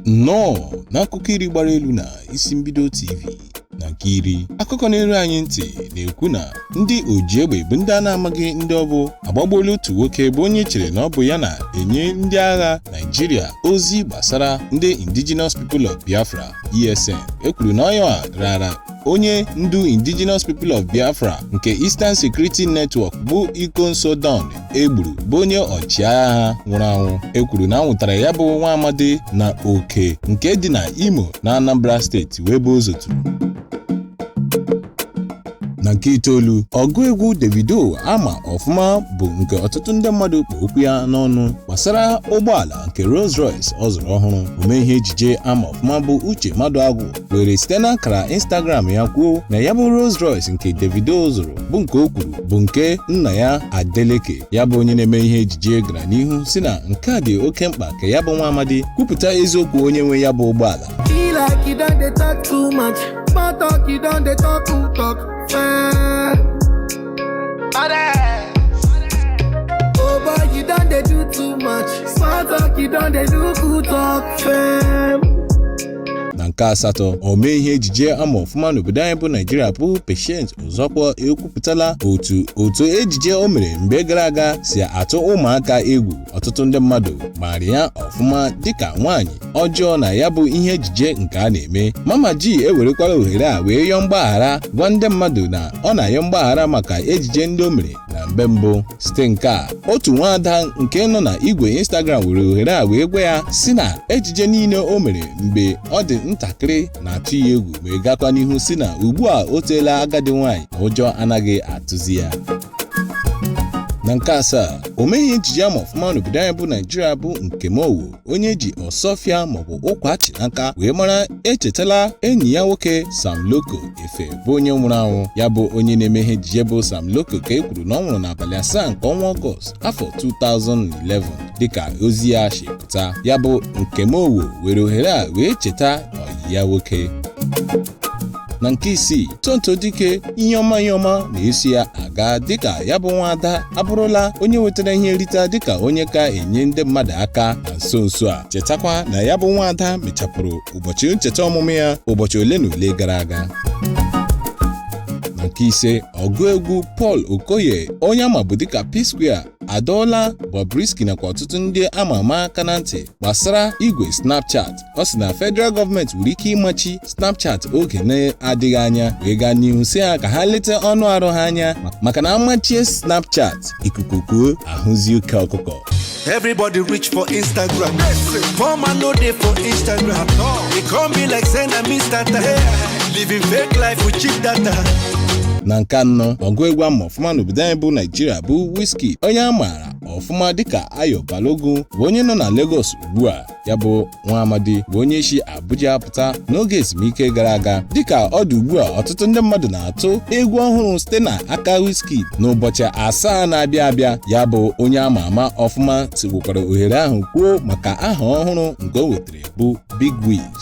nnọọ n'akụkọ iri gbara elu na isi mbido tv na nke iri akụkọ na-eru anyị ntị na-ekwu na ndị oji egbe bụ ndị a na-amaghị ndị ọ bụ agbagbuola otu nwoke bụ onye chere na ọ bụ ya na-enye ndị agha naijiria ozi gbasara ndị indigenous people of biafra esn e kwuru na ọ ya rara onye ndu indigenous people of biafra nke eastern security network bụ ikonso don e gburu bụ onye ọchịagha ha nwụrụ anwụ e kwuru na a nwụtara ya bụ nwa amadi na oke nke dị na imo na anambra steeti wee bụ ozotu na nke itoolu ọgụ egwu davido a ma ọfụma bụ nke ọtụtụ ndị mmadụ kpụ okwu ya n'ọnụ gbasara ụgbọala nke rolls royce ọ zụrụ ọhụrụ omee ihe ejije a ma ọfụma bụ uche maduagwu were site n'akara Instagram ya kwuo na ya bụ Rolls Royce nke Davido zụrụ bụ nke o kwuru bụ nke nna ya Adeleke ya bụ onye na-eme ihe ejije gara n'ihu sị na nke a dị oke mkpa ka ya bụ nwa amadi kwupụta eziokwu onye nwe ya bụ ụgbọala Be like you don dey talk too much. Small talk, you don dey talk who talk. Fem. Oh boy, you don dey do too much. Small talk, you don dey do who talk. Fem. na nke asatọ omee ihe ejije a ma ọfụma n'obodo anyị bụ naijiria bụ Patience Ozokwor ekwupụtala otu otu ejije o mere mgbe gara aga si atụ ụmụaka egwu ọtụtụ ndị mmadụ maara ya ọfụma dịka nwaanyị ọjọọ na ya bụ ihe ejije nke a na-eme Mama G ewerekwala ohere a wee yọọ mgbaghara gwa ndị mmadụ na ọ na-ayọ mgbaghara maka ejije ndị o mere na mgbe mbụ site nke a otu nwaada nke nọ na igwe Instagram were ohere a wee gwa ya sị na ejije niile o mere mgbe ọ dị ntakịrị na-atụ ya egwu wee gakwa n'ihu sị na ugbu a o toola agadi nwaanyị na ụjọ anaghị atụzi ya na nke asaa omee ihe ejije a ma ọfụma n'obodo anyị bụ naijiria bụ Nkem Owoh onye e ji Osuofia maọbụ Ukwa Achinaka wee mara echetala enyi ya nwoke Sam Loco Efe bụ onye nwụrụ anwụ ya bụ onye na-eme ihe ejije bụ Sam Loco ka e kwuru na ọ nwụrụ n'abalị asaa nke ọnwa Ọgọst afọ 2011 dịka ozi ya si pụta ya bụ Nkem Owoh were ohere a wee cheta ọyị ya nwoke na nke isii tonto dikeh ihe ọma ihe ọma na-esi ya aga dịka ya bụ nwaada abụrụla onye nwetara ihe nrite dịka onye ka enye ndị mmadụ aka na nso nso a chetakwa na ya bụ nwaada mechapụrụ ụbọchị ncheta ọmụmụ ya ụbọchị ole na ole gara aga na nke ise ọgụ egwu Paul Okoye onye a mabu dịka P-Square adọọla Bobrisky nakwa ọtụtụ ndị ama ama aka na ntị gbasara igwe Snapchat ọ sị na federal gọọmenti nwere ike ịmachi Snapchat oge na-adịghị anya wee gaa n'ihu si ha ka ha leta ọnụ arụ ha anya maka na amachie Snapchat ikuku kuo ahụzi ike ọkụkọ Everybody rich for Instagram. Poor man no dey for Instagram. E come be like say na Mr. Living fake life with cheap data. na nke anọ ọgụ egwu ama ọfụma n'obodo anyị bụ naijiria bụ Wizkid onye a maara ọfụma dịka Ayo Balogun bụ onye nọ na Lagos ugbu a ya bụ nwa amadi bụ onye si Abuja pụta n'oge ezumike gara aga dịka ọ dị ugbu a ọtụtụ ndị mmadụ na-atụ egwu ọhụrụ site na aka Wizkid n'ụbọchị asaa na-abịa abịa ya bụ onye a ma ama ọfụma jikwukwara ohere ahụ kwuo maka aha ọhụrụ nke o nwetara bụ Big Wiz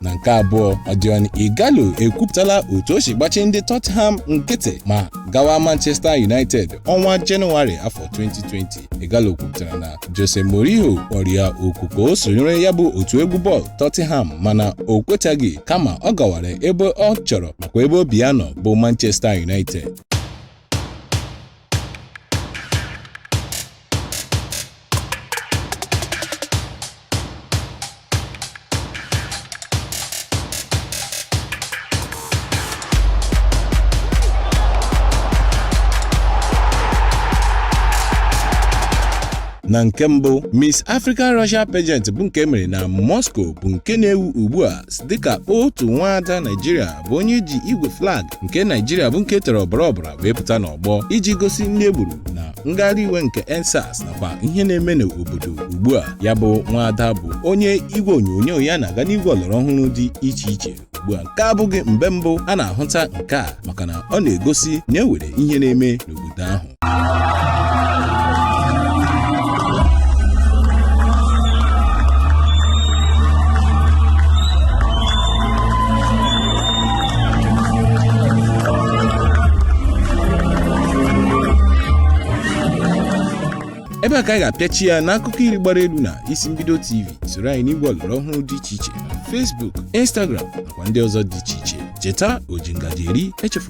na nke abụọ Odion Ighalo ekwupụtala otu o si gbachi ndị Tottenham nkịtị ma gawa Manchester United ọnwa Jenụwarị afọ 2020 Ighalo kwupụtara na Jose Mourinho kpọrọ ya oku ka o sonyere ya bụ otu egwu bọọlụ Tottenham mana o kwetaghị kama ọ gawara ebe ọ chọrọ makwa ebe obi ya nọ bụ Manchester United na nke mbụ Miss African Russia pageant bụ nke mere na Moscow bụ nke na-ewu ugbu a dịka otu nwaada Naijiria bụ onye ji igwe flag nke naijiria bụ nke tere ọbara ọbara wee pụta n'ọgbọ iji gosi ndị e gburu na ngagharị iwe nke EndSARS nakwa ihe na-eme n'obodo ugbu a ya bụ nwaada bụ onye igwe onyonyo ya na-aga n'igwe ọlọrọ ọhụrụ dị iche iche ugbu a nke a abụghị mgbe mbụ a na-ahụta nke a maka na ọ na-egosi na ewere ihe na-eme n'obodo ahụ ebe a ka anyị ga-apịachi ya n'akụkọ iri gbara elu na isi mbido tv soro anyị n'igwe ọlọrọ ọhụrụ dị iche iche na facebook instagram nakwa ndị ọzọ dị iche iche cheta oji ngaji eri echefu